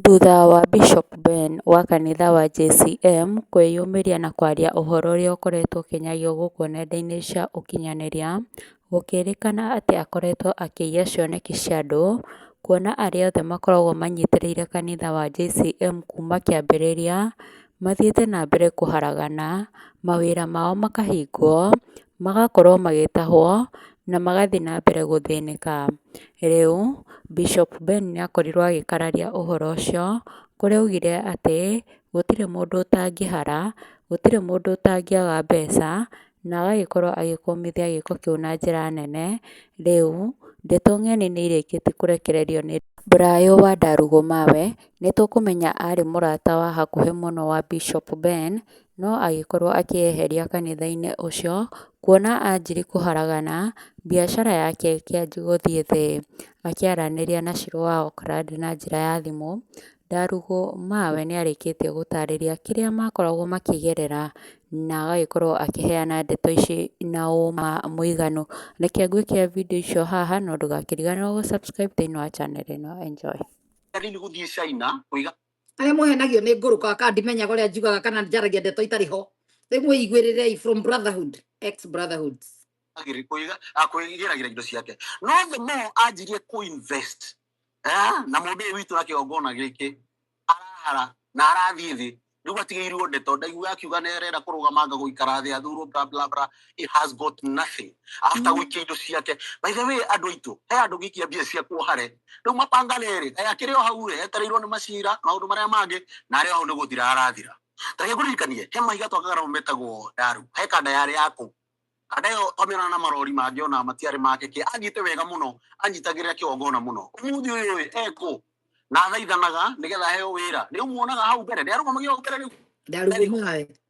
Thutha wa Bishop Ben wa kanitha wa JCM kwĩyumĩria na kwaria ũhoro ũrĩa ũkoretwo ũkĩnyagia gũkũ nenda-inĩ cia ũkinyanĩria, gũkĩrĩkana atĩ akoretwo akĩiya cioneki cia andũ, kuona arĩa othe makoragwo manyitĩrĩire kanitha wa JCM kuma kĩambĩrĩria, mathiĩte na mbere kũharagana, mawĩra mao makahingwo, magakorwo magĩtahwo na magathiĩ na mbere gũthĩnĩka. Rĩu Bishop Ben nĩ akorirwo agĩkararia ũhoro ũcio kũrĩa augire atĩ gũtirĩ mũndũ ũtangĩhara, gũtirĩ mũndũ ũtangĩaga mbeca na agagĩkorwo agĩkũmithia gĩko kĩu na njĩra nene. Rĩu ndeto ng'eni nĩ irĩkĩtie kũrekererio nĩ Brayo wa Ndarugũ Mawe, nĩ tũkũmenya arĩ mũrata wa hakuhĩ mũno wa Bishop Ben no agĩkorwo akĩyeheria kanitha-inĩ ũcio, kuona anjirie kũharagana, mbiacara yake ĩkĩanjia gũthiĩ thĩ. Akĩaranĩria na Shirũ wa Auckland na njĩra ya thimũ, Ndarugũ ma we nĩ arĩkĩtie gũtarĩria kĩrĩa makoragwo makĩgerera, na agagĩkorwo akĩheana ndeto ici na ũũma mũiganu. Reke ngwĩkĩre video icio haha, no ndũgakĩriganĩrwo gũ subscribe thĩiniĩ wa channel ĩno. Enjoy. arĩa mũhenagio nĩ ngũrũka kana ndimenyaga ũrĩa njugaga kana njaragia ndeto itarĩ ho rĩu mwĩiguĩrĩrei from brotherhood ex brotherhoods agiri kuiga akwigiragira indo ciake no the more anjirie ku invest eh na mundu uyu witu na kiongona giki arahara na arathie thi riu atigirwo ndeto ndaigua akiuga nerera kurugama nga guikara thi athurwo bla bla bla he has got nothing after mm. wikia indo ciake by the way andu aitu he andu gikia mbia cia kuohare riu mapanga riri aya kiri o hau ri etereirwo ni macira maundu maria mangi na ari o hau ni guthira arathira tareke kuririkanie he mahiga twakagara metagwo ndaru he kanda yari yaku kanda yo twamĩona na marori mangĩ ona matiarĩ make kä angite wega må no anyitagĩrĩra kä ongona må no umuthi å yå ekå na thaithanaga nä getha heo wä ra nä å muonaga hau mbere nä arå gamagia mbere rä u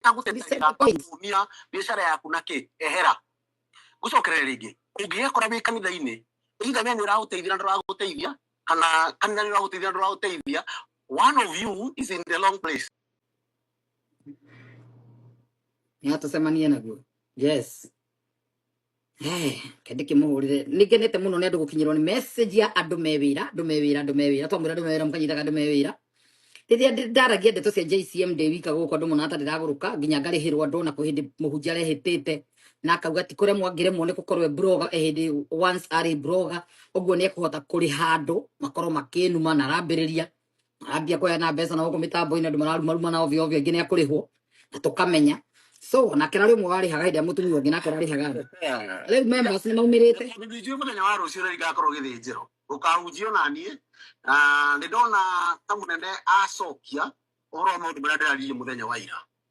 ndagũteithagĩrĩra kumia biacara yaku na kĩ ehera gucokerera rĩngĩ ũngĩgekora wĩ kanitha-inĩ either we nĩ ũragũteithia na ndũragũteithia kana kanitha nĩ ũragũteithia na ndũragũteithia one of you is in the long place nĩ atũcemanie naguo yes Eh, kende kimuhurire nigenete muno ni andu gukinyirwo ni message ya andu me wira andu me wira andu me wira twamwira andu me wira mukanyitaga andu me wira riria ndi- ndaragia ndeto cia JCM ndi wika guku andu mona atari raguruka nginya ngarihirwo andu na kuhindi muhunjia rehitite na akauga ti kuria mwangiremwo ni gukorwo e broga ehindi once ari broga uguo ni ekuhota kuriha andu makorwo makinuma na arambiriria ambia kũheana mbeca na gũkũ mĩtambo-inĩ andũ mararumaruma na ovyo ovyo aingĩ nĩ akũrĩhwo na tũkamenya so nake rarĩ ũmwe warĩhaga hĩndĩ ĩrĩa mũtumia ũngĩ nake ũrarĩhaga andũ rĩu members nĩ maumĩrĩte Tondũ nĩ njũĩ mũthenya wa rũciũ rĩrĩa igakorwo gĩthĩnjĩro rũkahunjio na niĩ na nĩ ndona ta mũnene acokia ũhoro wa maũndũ marĩa ndĩraririe mũthenya wa ira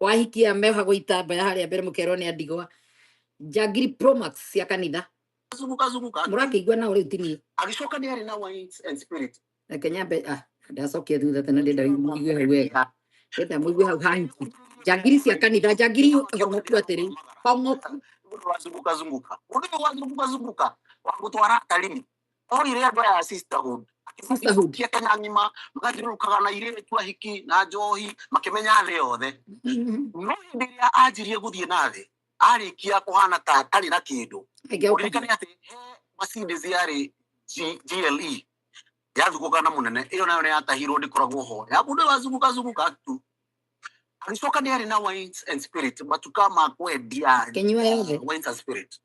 wahikia meohagwo itambaya harĩa mbere mũkerwo nĩ andigwa njangiri promax cia kanitha azunguka azunguka mũrakĩigua nao rĩu tini agĩcoka nĩ arĩ na wine and spirit reke nyambe ah ndacokia thutha tena ndenda mũigue hau wega ndenda mũigue hau hanki njangiri cia kanitha njangiri hongoku atĩrĩ hongoku mũndũ wazunguka zunguka mũndũ ũyũ wazunguka zunguka wa gũtwara atarini Ori ria mbara ya sisterhood. Sisterhood. Kia kana ngima magathirukaga na ire tu ahiki na njohi makimenya thĩ yothe. No hĩndĩ ĩrĩa anjirie gũthiĩ na thĩ arĩkia kũhana ta atarĩ na kĩndũ. Ũririkane atĩ he macini ciarĩ GLE yathuguka na mũnene ĩyo nayo nĩ yatahirwo ndĩkoragwo ho ya mũndũ wazunguka zunguka tu agĩcoka nĩ arĩ na wines and spirit matuka ma kwendia wines and spirit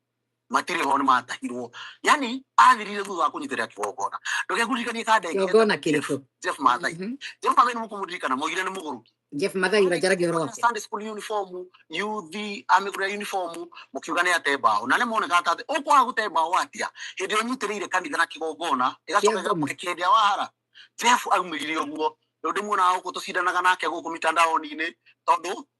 matirĩ ho nĩ matahirwo yani athirire thutha wa kũnyitĩrĩra kĩgongona ndũgekuririkanie kanda ĩngĩ kĩgongona kĩrĩkũ Jeff Mathai Mhm. Jeff Mathai nĩ mũkũmũririkana moigire nĩ mũgũrũki Jeff Mathai ũranjaragia ũhoro wake Sunday school uniform yuthi amĩgũrĩra uniform mũkiuga nĩ ate mbaũ na nĩ moneka ta atĩ ũkwaga gũte mbaũ atia hĩndĩ ĩyo ũnyitĩrĩire kanitha na kĩgongona ĩgacoka Kĩa ngoma. ĩgakũrekia hĩndĩ ya wahara Jeff aumĩrire ũguo rĩu ndĩmuonaga gũkũ tũcindanaga nake gũkũ mitandaoni-inĩ tondũ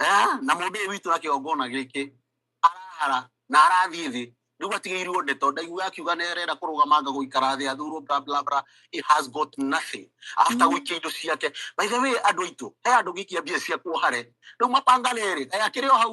Eh, na mũndũ ũyũ witũ na kĩgongona gĩkĩ arahara na arathiĩ thĩ rĩu atigĩirwo ndeto ndaigua akiuga nĩ arenda kũrũgama anga gũikara thĩ athurwo bla bla bla he has got nothing after gũikia indo ciake by the way andũ aitũ he andũ gĩkia mbia cia kuohare rĩu mapanga rĩrĩ aya kĩrĩ o hau